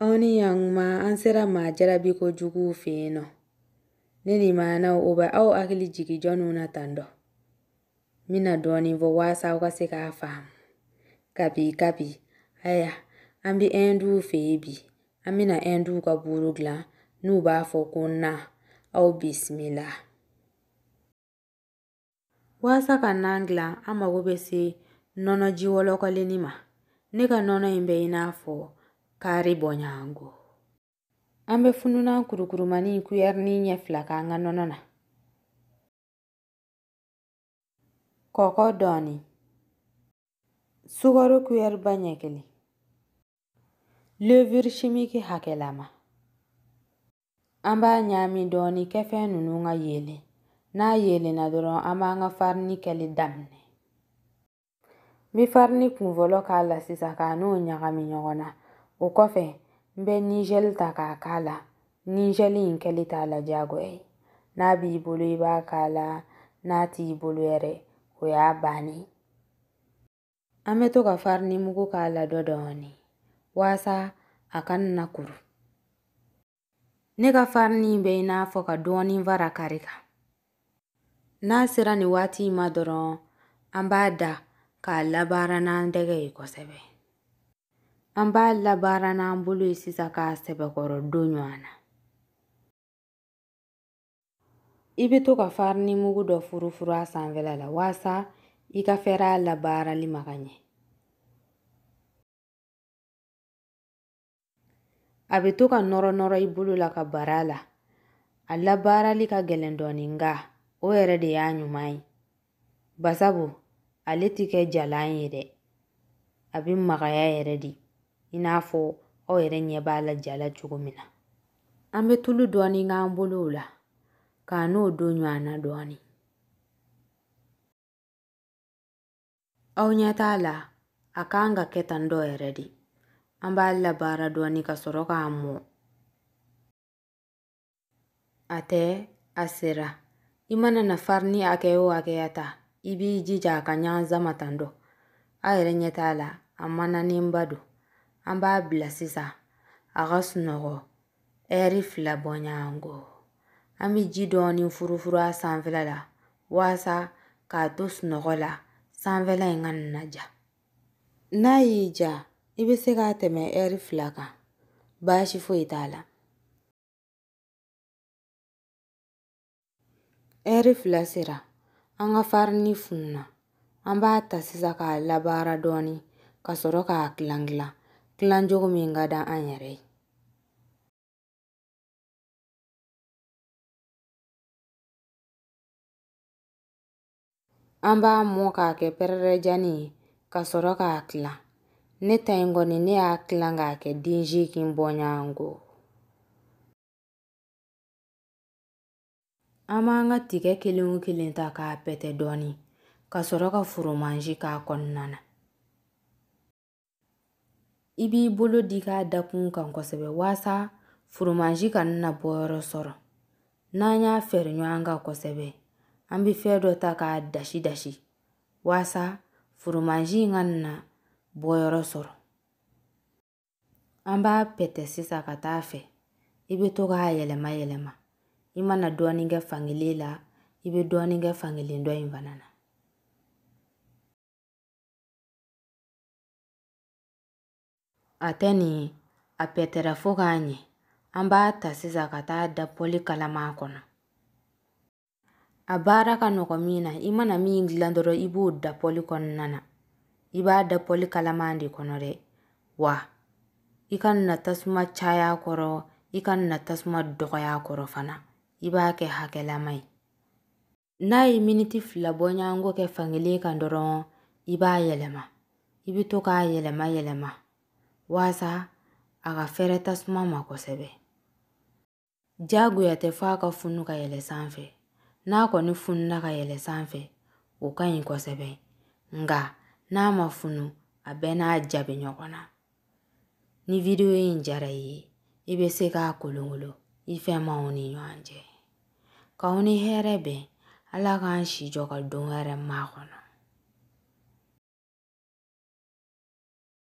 Aw ni ɲankuma an sera maa jarabi ko juguw fɛ yen nɔ ne ni maanaw o bɛ aw hakili jigin jɔnniw na tan dɔ n bɛna dɔɔnin fɔ waasa aw ka se k'a faamu kabi kabi aya an bɛ ɛnduw fɛ yen bi an bɛna ɛnduw ka buuru dilan n'u b'a fɔ ko nan aw bisimila. walasa ka nan dilan an mago bɛ se nɔnɔ ji wɔlɔkɔlennin ma ne ka nɔnɔ in bɛ i n'a fɔ kari bɔɲɔgɔnko an bɛ fununan kurukurumani kuyɛrini ɲɛ fila k'an ka nɔnɔ na kɔkɔ dɔɔni sukaro kuyɛriba ɲɛ kelen leviri simiki hakɛlama An b'a ɲaami dɔɔni kɛfɛn ninnu ka yeelen. N'a yeelenna dɔrɔn an b'an ka farini kɛli daminɛ. N bɛ farini kunfɔlɔ k'a la sisan k'a n'o ɲagami ɲɔgɔn na. O kɔfɛ n bɛ nizɛli ta k'a k'a la. Nizɛli in kɛli t'a la diyagoya ye. N'a b'i bolo i b'a k'a la, n'a t'i bolo yɛrɛ o y'a bannen ye. An bɛ to ka farini mugu k'a la dɔ dɔɔni walasa a kana kuru. Ne ka farini bɛ i n'a fɔ ka dɔɔni fara kari kan. N'a sera nin waati in ma dɔrɔn an b'a da k'a labaara n'an tɛgɛ ye kosɛbɛ. An b'a labaara n'an bolo ye sisan k'a sɛbɛkɔrɔ don ɲɔgɔn na. i bɛ to ka farini mugu dɔ furufuru a sanfɛla la walasa i ka fɛɛrɛ a labaarali ma ka ɲɛ a bɛ to ka nɔrɔ nɔrɔ i bolo la ka bara la a labaarali ka gɛlɛn dɔɔnin nka o yɛrɛ de y'a ɲuman ye basabu ale tɛ kɛ jalan ye dɛ a bɛ magaya yɛrɛ de i n'a fɔ aw yɛrɛ ɲɛ b'a la ja la cogo min na an bɛ tulu dɔɔni k'an bolow la k'a n'o don ɲɔgɔn na dɔɔni aw ɲɛ t'a la a kan ka kɛ tan dɔ yɛrɛ de an b'a labaara dɔɔni ka sɔrɔ k'a mɔ A tɛ a sera i mana na farini hakɛ o hakɛya ta i b'i jija a ka ɲanza ma tan dɔ aw yɛrɛ ɲɛ t'a la a mananenba don an b'a bila sisan a ka sunɔgɔ ɛri fila bɔɲɔgɔnko an bɛ ji dɔɔni furufuru a sanfɛla la walasa k'a to sunɔgɔ la sanfɛla in kana ja n'a y'i diya i bɛ se k'a tɛmɛ ɛri fila kan baasi foyi t'a la Ɛri fila sera an ka farini fununa an b'a ta sisan k'a labaara dɔɔnin ka sɔrɔ k'a kilan kilan kilan cogo min ka di an yɛrɛ ye An b'a mɔ k'a kɛ pɛrɛrɛjani ye ka sɔrɔ k'a tila ne ta in kɔni ne y'a tila k'a kɛ den seegin bɔɲɔgɔnko an b'an ka tigɛ kelen o kelen ta k'a pɛtɛ dɔɔnin ka sɔrɔ ka foromazi k'a kɔnɔna na i b'i bolo digi a dakun kan kosɛbɛ waasa foromazi kana na bɔyɔrɔ sɔrɔ n'an y'a fɛrɛ ɲɔgɔn kan kosɛbɛ an bɛ fɛn dɔ ta k'a dasi dasi waasa foromazi in kana na bɔyɔrɔ sɔrɔ an b'a pɛtɛ sisan ka taa fɛ i bɛ to k'a yɛlɛma yɛlɛma i mana dɔɔnin kɛ fankelen la i bɛ dɔɔnin kɛ fankelen dɔ in fana na A tɛ ni a pɛtɛra fo k'a ɲɛ an b'a ta sisan ka t'a da pɔli kalama kɔnɔ a baara ka nɔgɔn min na i mana min dilan dɔrɔn i b'o da pɔli kɔnɔna na i b'a da pɔli kalama de kɔnɔ dɛ wa i kana tasuma caya kɔrɔ i kana tasuma dɔgɔya kɔrɔ fana i b'a kɛ hakɛlama ye n'a ye miniti fila bɔɲɔgɔnko kɛ fankelen kan dɔrɔn i b'a yɛlɛma i bɛ to k'a yɛlɛma yɛlɛma waasa a ka fɛrɛ tasuma ma kosɛbɛ jagoya tɛ fo a ka funu ka yɛlɛ sanfɛ n'a kɔni fununa ka yɛlɛ sanfɛ o ka ɲi kosɛbɛ nka n'a ma funu a bɛɛ n'a jaabi ɲɔgɔn na ni video in diyara i ye i bɛ se k'a kolongolo i fɛmaaw ni ɲɔgɔn cɛ k'aw ni hɛrɛ bɛn ala k'an si jɔ ka don wɛrɛ makɔnɔ